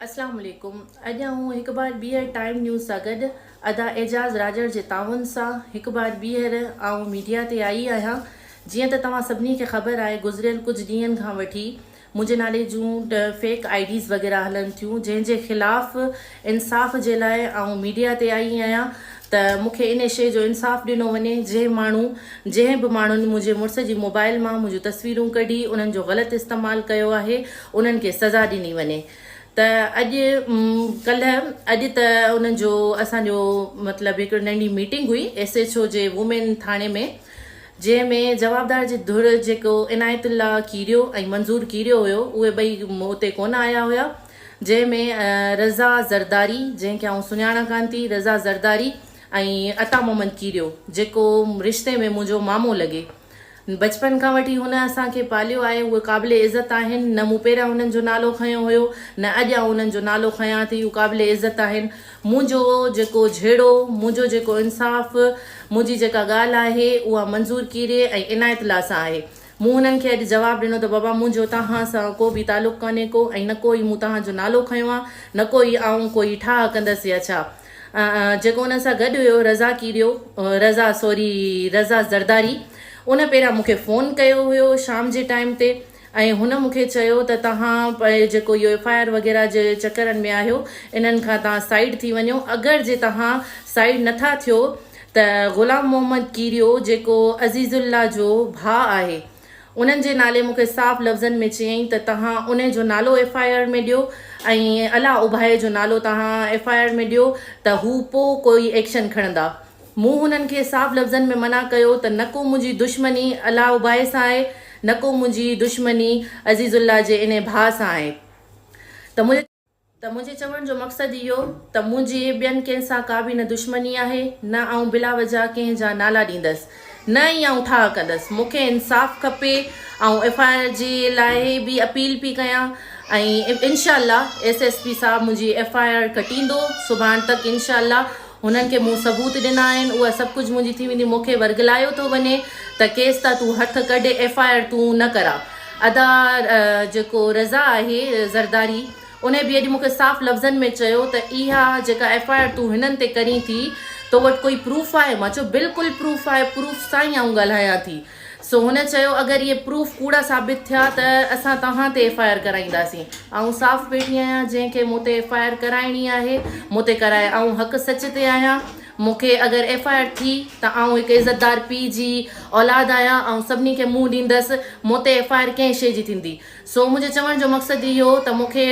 اسلام عليڪم اڄ آئون هڪ بار ٻيهر ٽائيم نيوز سان گڏ ادا اعجاز راڄڙ جي تعاون سان هڪ بار ٻيهر آئون ميڊيا تي آئي آهيان جيئن ته توهان سڀني کي خبر آهي گذريل ڪجهه ڏينهن کان وٺي منهنجي نالي جون فيڪ آئي ڊيز وغيره هلن ٿيون جنهن جي خلاف انصاف جي لاء آئون ميڊيا تي آئي آهيان ته مون کي انهي شيء جو انصاف ڏنو وڃي جنهن ماڻهو جنهن به ماڻهن منهنجي مڙس جي موبائل مان منهنجون تصويرون ڪڍي انهن جو غلط استعمال ڪيو آهي انهن کي سزا ڏني وڃي ته اڄ ڪلهه اڄ ته انهن جو اسان جو مطلب هڪڙي ننڍي ميٽنگ هئي ايس ايڇ او جي وومين ٿاڻي ۾ جنهن ۾ جوابدار جي ڌر جيڪو عنايت الله کيريو ۽ منظور کيريو هيو اهي ٻئي اتي ڪونه آيا هيا جنهن ۾ رضا زرداري جنهن کي آئون سڃاڻان ڪانه ٿي، رضا زرداري ۽ عطا محمد ڪيريو جيڪو رشتي ۾ منهنجو مامو لڳي. بچپن کان وٺي هن اسان کي پاليو آهي اهي قابل عزت آهن نه مون پهريان هنن جو نالو کنيو هيو نه اڄ آئون هنن جو نالو کنيان ٿي اهي قابل عزت آهن منهنجو جيڪو جهيڙو منهنجو جيڪو انصاف منهنجي جيڪا ڳالهه آهي اها منظور ڪيري ۽ عنايت الله سان آهي. مون هنن کي اڄ جواب ڏنو ته بابا منهنجو تهان سان ڪو به تعلق ڪانهي ڪو ۽ نه ڪو ئي مون تهان جو نالو کنيو آ نه ڪو ئي آئون ڪو ئي ٺاهه ڪندس يا ڇا جيڪو انهن سان گڏ هيو رضا ڪيڏيو رضا سوري رضا زرداري ان پهريان مون کي فون ڪيو هيو شام جي ٽائيم تي ۽ هن مون کي چيو ته تهان جيڪو اهو ايف آء آر وغيره جي چڪرن ۾ آهيو انهن کان تهان سائيڊ ٿي وڃو اگر جي تهان سائيڊ نٿا ٿيو ته غلام محمد ڪيريو جيڪو عزيز الله جو ڀاء آهي انهن جي نالي مون کي صاف لفظن ۾ چيائين ته توهان انهي جو نالو ايف آء آر ۾ ڏيو ۽ الله اڀائي جو نالو توهان ايف آء آر ۾ ڏيو ته هو پو ڪوئي ايڪشن کڻندا مون هنن کي صاف لفظن ۾ منع ڪيو ته نه ڪو منهنجي دشمني الله اڀائي سان آهي نه ڪو منهنجي دشمني عزيز الله جي انهي ڀاء سان آهي ته منهنجي ته منهنجي چوڻ جو مقصد اهو ته منهنجي ٻين ڪنهن سان ڪا به نه دشمني آهي، نه آئون بلا وجهه ڪنهن جا نالا ڏيندس، نه ئي آئون ٺاهه ڪندس، مون کي انصاف کپي، آئون ايف آء آر جي لاء به اپيل پي ڪيان ۽ انشاء الله ايس ايس پي صاحب منهنجي ايف آء آر ڪٽيندو، سڀاڻ تڪ انشاء الله. هنن کي مون ثبوت ڏنا آهن اها سڀ ڪجهه منهنجي ٿي ويندي مونکي ورغلايو ٿو وڃي ته ڪيس تان تون هٿ ڪڍ ايف آء آر تون نه ڪرا ادا جيڪو رضا آهي زرداري انهي به اڄ مونکي صاف لفظن ۾ چيو ته اها جيڪا ايف آء آر تون هنن تي ڪرين ٿي تو وٽ ڪوئي پروف آهي مان چيو بلڪل پروف آهي پروف سان ئي آئون ڳالهايان ٿي. سو هن چيو اگر اهي پروف ڪوڙا ثابت ٿيا ته اسان توهان تي ايف آء آر ڪرائينداسين آئون صاف پيٽي آهيان جنهن کي مون تي ايف آء آر ڪرائڻي آهي مون تي ڪرائي آئون حق سچ تي آهيان مون کي اگر ايف آء آر ٿي ته آئون هڪ عزتدار پي جي اولاد آهيان آئون سڀني کي منهن ڏيندس مون تي ايف آء آر ڪنهن شي جي ٿيندي سو منهنجي چوڻ جو مقصد اهو ته مون کي